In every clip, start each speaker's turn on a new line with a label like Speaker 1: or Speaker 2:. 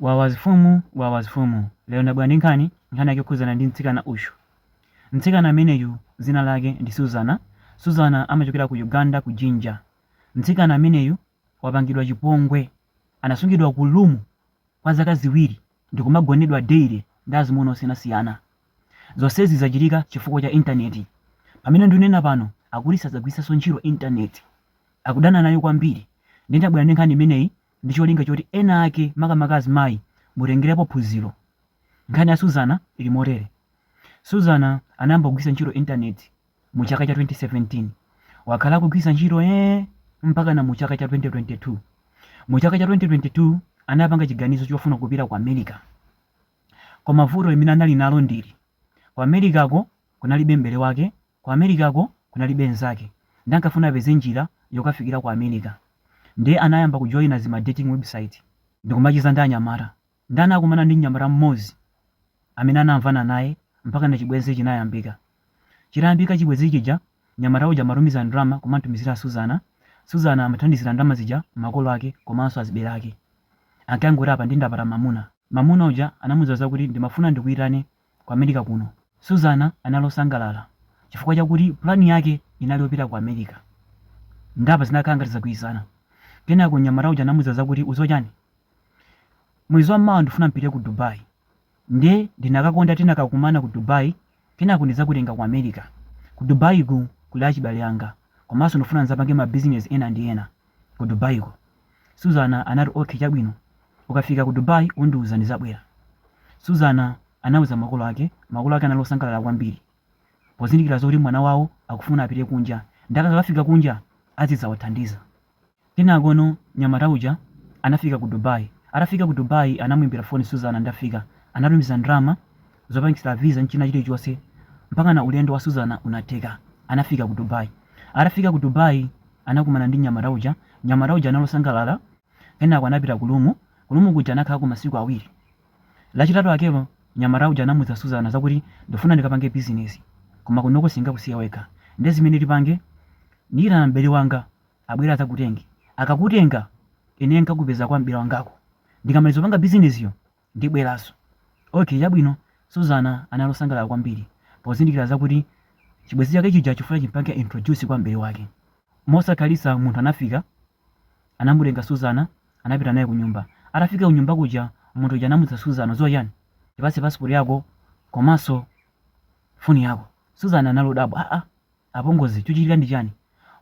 Speaker 1: Wawas fumu wawas fumu lero ndabwera ndi nkhani, nkhani yake yokhudzana ndi mtsikana uyu. Mtsikana ameneyu dzina lake ndi Suzana, Suzana amachokera ku Uganda ku Jinja. Mtsikana ameneyu wapangidwa chipongwe, anasungidwa ku room kwa zaka ziwiri ndikumagonedwa daily ndi azimuna osiyanasiyana. Zonsezi zachitika chifukwa cha intaneti. Pamene ndunena pano akuti sadzagwiritsanso ntchito intaneti, akudana nayo kwambiri. Ndiye ndabwera ndi nkhani imeneyi ndi cholinga choti ena ake, makamaka azimayi, mutengerepo phunziro. Nkhani ya Suzana ili motere, Suzana anayamba kugwiritsa ntchito intaneti mu chaka cha 2017. Wakhala akugwiritsa ntchito eeh mpakana mu chaka cha 2022. Mu chaka cha 2022 anapanga chiganizo chofuna kupita ku America. Koma vuto limene anali nalo ndili, ku Americako kunalibe m'bale wake Ku Americako kunalibe nzake nde ankafuna apeze njira yokafikira ku America nde anayamba kujoina zima dating website ndikumacheza ndi anyamata nde anakumana ndi mnyamata mmodzi amene anamvana naye mpakana chibwenzi chinayambika. Chitayambika chibwenzi chija mnyamata uja amatumiza ndalama kumamtumizira Suzana, Suzana amathandizira ndalama zija makolo ake komanso azibale ake. Ankangoti apa nde ndapata mamuna. Mamuna uja anamuza zakuti ndimafuna ndikuitane ku America kuno. Suzana anali osangalala chifukwa chakuti pulani yake inali yopita ku America. Nde apa zinakhala ngati zagwirizana. Kenako mnyamata uja anamuza zakuti udziwa chani? Mwezi wa mawa ndifuna mpite ku Dubai. Nde ndinakakonda tinakakumana ku Dubai kenako ndizakutenga ku America. Ku Dubai ko kuli achibale anga komanso ndifuna nzapange ma bizinezi ena ndi ena ku Dubai ko. Suzana anati, Ok, chabwino. Ukafika ku Dubai undiuza, ndizabwera. Suzana anauza makolo ake. Makolo ake anali osangalala kwambiri pozindikira zoti mwana wawo akufuna apite kunja ndi akakafika kunja azidzawathandiza. Kenakono mnyamata uja anafika ku Dubai. Atafika ku Dubai anamuimbira foni Suzana ndafika. Anatumiza ndalama zopangitsira visa nchina chilichonse mpakana ulendo wa Suzana unatheka anafika ku Dubai atafika ku Dubai anakumana ndi nyamata uja nyamata uja analosangalala kenako anapita ku lumu ku lumu kuja anakhalako masiku awiri lachitatu akero nyamata uja anamuza Suzana zakuti ndifuna ndikapange bizinesi koma kunoko sindingakusiye wekha nde zimene tipange ndiyitana m'bale wanga abwere azakutenge akakutenga ine nkakupeza kwa m'bale wangako ndikamaliza zopanga bizinesiyo Ndibweranso. Okay, chabwino. Suzana anali osangalala kwambiri pozindikira zakuti chibwenzi chake chija chikufuna chimpange introduce kwa m'bale wake. Mosakhalitsa munthu anafika, anamutenga Suzana anapita naye kunyumba. Atafika kunyumba kuja munthu uja anamuuza Suzana, udziwa chani? Ndipatse passport yako komanso phone yako. Suzana anali odabwa, aah! Apongozi, chuchitika ndi chani?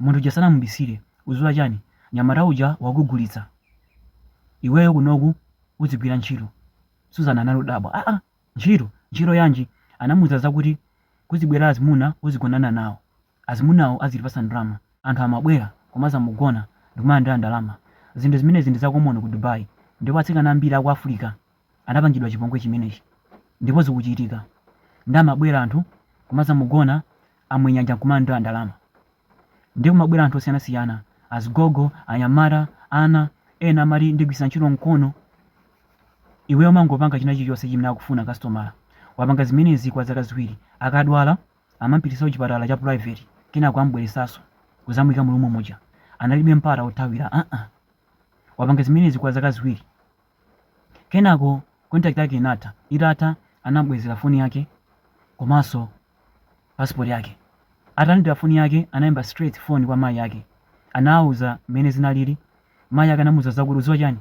Speaker 1: Munthu uja sanamubisile, uziwa chani? Nyamata uja wakugulitsa. Iweyo kunoku udzigwira ntchito. Suzana anali odabwa, aa ntchito? Ntchito yanji? Anamuuza zakuti kuzibwera azimuna uzigonana nawo. Azimunawo azilipasa ndalama. Anthu amabwera kumazamugona ndikumalandira ndalama. Zinthu zimenezi ndi za common ku Dubai ndipo atsikana ambiri aku Africa anapangidwa chipongwe chimenechi ndipo zikuchitika ndi amabwera anthu kumazamugona amwenyanja nkumalandira ndalama ndiye kumabwera anthu osiyanasiyana azigogo anyamata ana ena amati ndigwiritsa ntchito mkono iweyo umangopanga china chilichonse chimene akufuna kasitomala wapanga zimenezi kwa zaka ziwiri akadwala amampitisa kuchipatala cha private kenako amubweresaso kuzamuyika mu room muja analibe mpata othawira aa wapanga zimenezi kwa zaka ziwiri Kenako contract yake inatha, itatha anam'bwezera phone yake komanso passport yake. Atalandira phone yake anaimba straight phone kwa mayi ake, anawauza mmene zinalili, mayi ake anamuuza zakuti udziwa chani?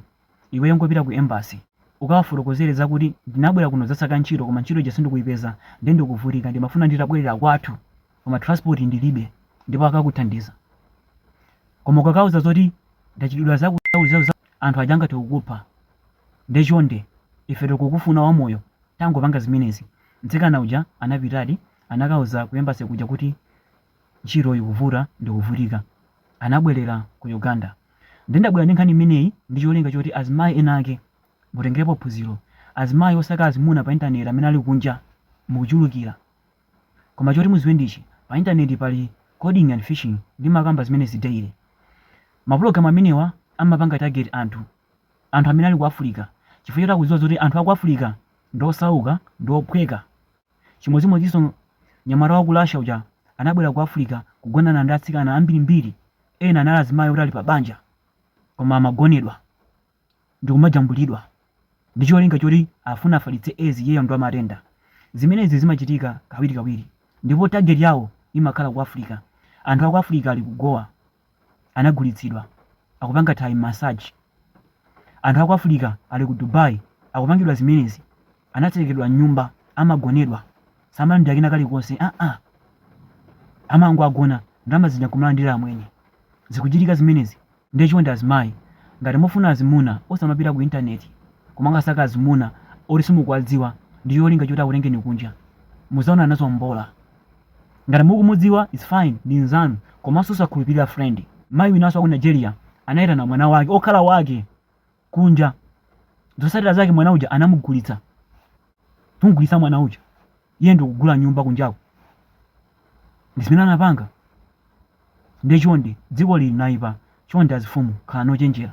Speaker 1: Iweyo ingopita ku embassy ukawafotokozere zakuti ndinabwera kuno kudzasaka ntchito koma ntchito ija sindikuipeza nde ndikuvutika ndimafuna nditabwelera kwathu koma transport ndilibe ndipo akakuthandiza. Koma ukakauza zoti ndachitidwa zakuti zakuti zakuti zakuti. anthu aja angathe kukupha nde chonde ife tikukufuna wamoyo tangopanga zimenezi. Mtsikana uja anapitadi anakauza ku embassy kuja kuti ntchito ikuvuta ndikuvutika anabwelera ku Uganda. Nde ndabwera ndi nkhani imeneyi ndi cholinga choti azimayi ena ake mutengerepo phunziro. Azimayi osaka azimuna pa internet amene ali kunja mukuchulukira. Koma choti muziwe ndichi, pa internet pali coding and phishing ndimakamba zimenezi daily. Ma program amenewa amapanga target anthu anthu amene ali ku Africa chifukwa choti akudziwa zoti anthu aku Africa ndi osauka ndi ophweka. Chimodzimodzinso nyamata wa ku Russia uja anabwera ku Africa kugonana ndi atsikana ambirimbiri ena anali azimayi oti ali pa banja koma amagonedwa. ndikumajambulidwa ndi cholinga choti afuna afalitse aids iyeyo ndi wamatenda. Zimenezi zimachitika kawirikawiri ndipo target yawo imakhala ku Africa. Anthu aku Africa ali ku Goa anagulitsidwa, akupanga Thai massage. Anthu aku Africa ali ku Dubai akupangidwa zimenezi, anatsekeredwa m'nyumba, amagonedwa, samalandira kena kalikonse aa! Amangowagona, ndalama zija nkumalandira amwenye. Zikuchitika zimenezi. Ndiye chonde azimayi ngati mufuna azimuna osamapita ku internet kumakasaka azimuna oti simukuwadziwa ndicholinga choti akutengeni kunja. Muzaona nazo mbola. Ngati mukumudziwa its fine ndi nzanu komaso osakhulupilira friend. Mai winaso waku Nigeria anaitana mwana wake okhala wake kunja. Zotsatira zake mwana uja anamugulitsa. Kumugulitsa mwana uja, iye ndi kugula nyumba kunjako. Ndi zimene anapanga. Ndiye chonde, dziko lino linaipa. Chonde azifumu, khalani ochenjera.